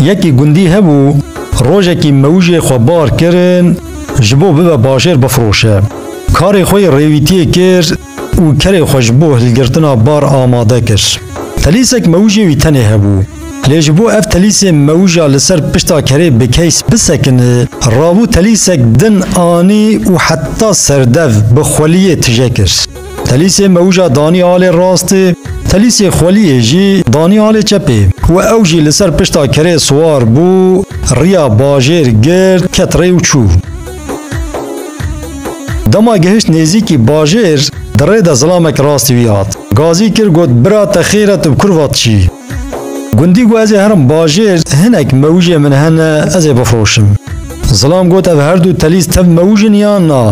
Yekî gundî hebû rojekî mewjê xwe bar kirin ji bo bibe bajêr bifroşe. Karê xwe yê rêwîtiyê kir û kerê xwe ji bo hilgirtina bar amade kir. Telîsek mewjê wî tenê hebû. Lê ji bo ev telîsê mewja li ser pişta kerê bi keys bisekine, rabû telîsek din anî û heta serdev bi xweliyê tije kir. Telîsê mewja danî alê rastê, telîsê xweliyê jî danî alê çepê û ew jî li ser pişta kerê siwar bû, riya bajêr girt, ket rê û çû. Dema gihişt nêzîkî bajêr, di rê de zilamek rastî wî hat. Gazî kir got, Bira te xêr e tu bi kurva diçî? Gundî ku ez ê herim bajêr hinek mewijê min hene ez ê bifroşim. Zilam got ev her du telîz tev mewij in yan na?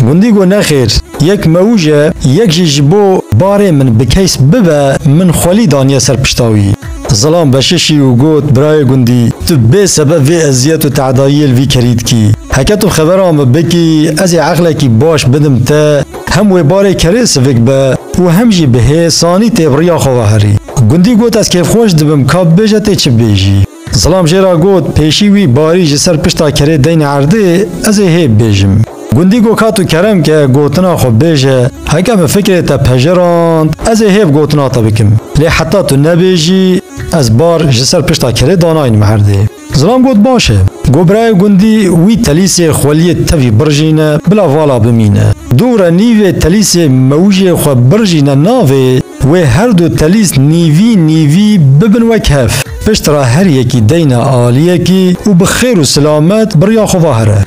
Gundî got nexêr yek mewij e yek jî ji bo barê min bi keys bibe min xwelî daniye ser pişta wî. Zilam veşişî û got birayê gundî tu bê sebeb vê eziyet û tedayiyê li vî kerî dikî. Heke tu xebera min bikî ez ê eqlekî baş bidim te. Hem wê barê kerê sivik be û hem jî bi hê sanî tê bi riya xwe ve herî. Gundî got ez kêfxweş dibim ka bibêje tê çi bêjî. Zilam jê re got pêşî wî barî ji ser pişta kerê deynê erdê ez ê hê bibêjim. Gundî got ka tu kerem ke gotina xwe bêje heke min fikrê te pejirand ez ê hêv gotina te bikim. Lê heta tu nebêjî ez bar ji ser pişta kerê danayînim erdê. Zilam got baş e. Got birayê gundî wî telîsê xweliyê tevî birjîne bila vala bimîne. Dûre nîvê telîsê mewijê xwe birjîne navê wê her du telîs nîvî nîvî bibin wek hev. Pişt re her yekî deyne aliyekî û bi xêr û silamet bi riya xwe va here.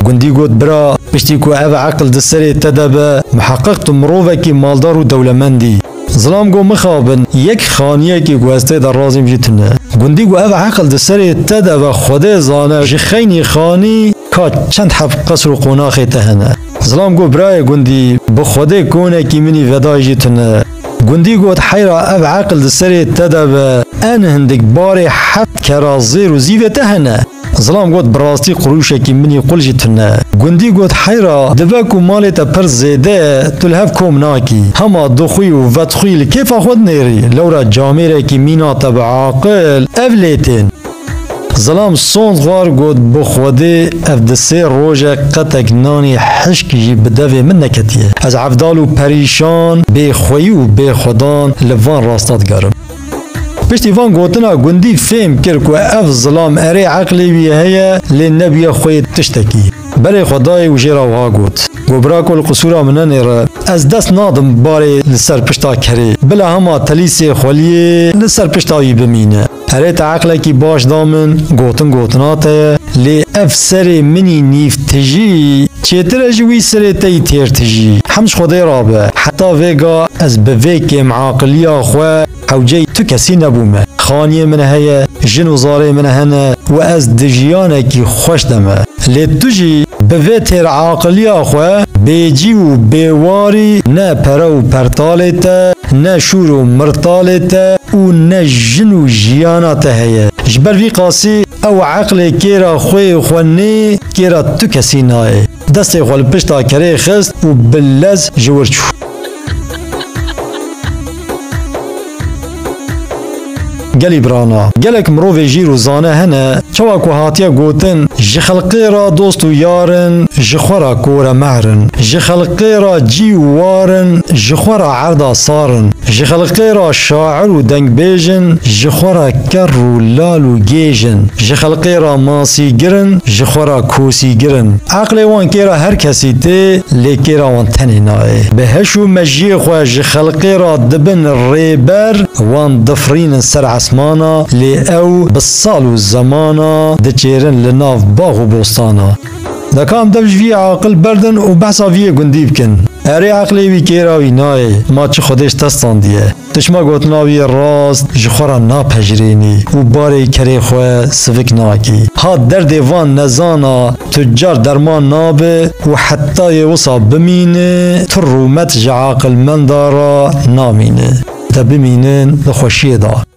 Gundî got bira piştî ku ev eqil di serê te de be miheqiq tu mirovekî maldar û dewlemend î. Zilam got mixabin, yek xaniyekê ku ez tê de razîm jî tune. Gundî got ev eqil di serê te de be Xwedê zane ji xeynî xanî ka çend heb qesr û qonaxê te hene. Zilam got birayê gundî bi Xwedê konekî minî vedayî jî tune. Gundî got heyra ev eqil di serê te de be en hindik barê heft kera zêr û zîvê te hene. Zilam got bi rastî qurûşekî minî qul jî tune. Gundî got heyra dibe ku malê te pir zêde ye tu li hev kom nakî. Hema dixwî û vedixwî li kêfa xwe dinêrî. Lewra camêrekî mîna te bi aqil ev lê tên. Zilam sond xwar got bi xwedê ev di sê roje qetek nanê hişk jî bi devê min neketiye. Ez evdal û perîşan bê xweyî û bê xwedan li van rasta digerim. Piştî van gotina gundî fêm kir ku ev zilam erê eqlê wî heye lê nebûye xwe yê tiştekî. Berê xwe dayê û jê re wiha got, Gobrako li qisûra min nenêre, ez dest nadim barê li ser pişta kerê, bila hema telîsê xweliyê li ser pişta wî bimîne. Erê te eqlekî baş da min, gotin gotina te ye, lê ev serê min î nîv Tijî, çêtir e ji wî sirê te yî têr tijî. Hem ji Xwedê re be, heta vê ga ez bi vê kêmaqiliya xwe hewceyî tu kesî nebûme. Xaniyê min heye, jin û zarê min hene û ez di jiyanekî xweş de me. Lê tu jî bi vê têraqiliya xwe bêcî û bêwarî ne pere û pertalê te, ne şûr û mirtalê te û ne jin û jiyana te heye. Ji ber vî qasî. Ew eqlê kêra xwê xwe nê kêra tu kesî nayê. Destê xwe li pişta kerê xist û bi lez ji wir çû. Gelî birana, gelek mirovê jîr û zane hene, çawa ku hatiye gotin, ji xelqê re dost û yar in, ji xwe re kor e mehr in. Ji xelqê re cî û war in, ji xwe re Erda Sarin, ji xelqê re şair û dengbêj in, ji xwe re kerr û lal û gêj in, ji xelqê re masîgir in, ji xwe re kosîgir in. Eqlê wan kêra her kesî tê, lê kêra wan tenê nayê. Bi heş û mejiyê xwe ji xelqê re dibin rêber, wan difirînin ser esmana, lê ew bi sal û zemana diçêrin li nav bax û bostana. Dekan dev ji vî yê aqil berdin û behsa vî yê gundî bikin. Erê eqlê wî kêra wî nayê, ma çi Xwedê ji te standiye. Tu çima gotina wî yê rast ji xwe re napejirênî û barê kerê xwe sivik nakî. Ha derdê van nezana tu car derman nabe û heta yê wisa bimîne tu rûmet ji aqilmenda re namîne. Te bimînin di xweşiyê de.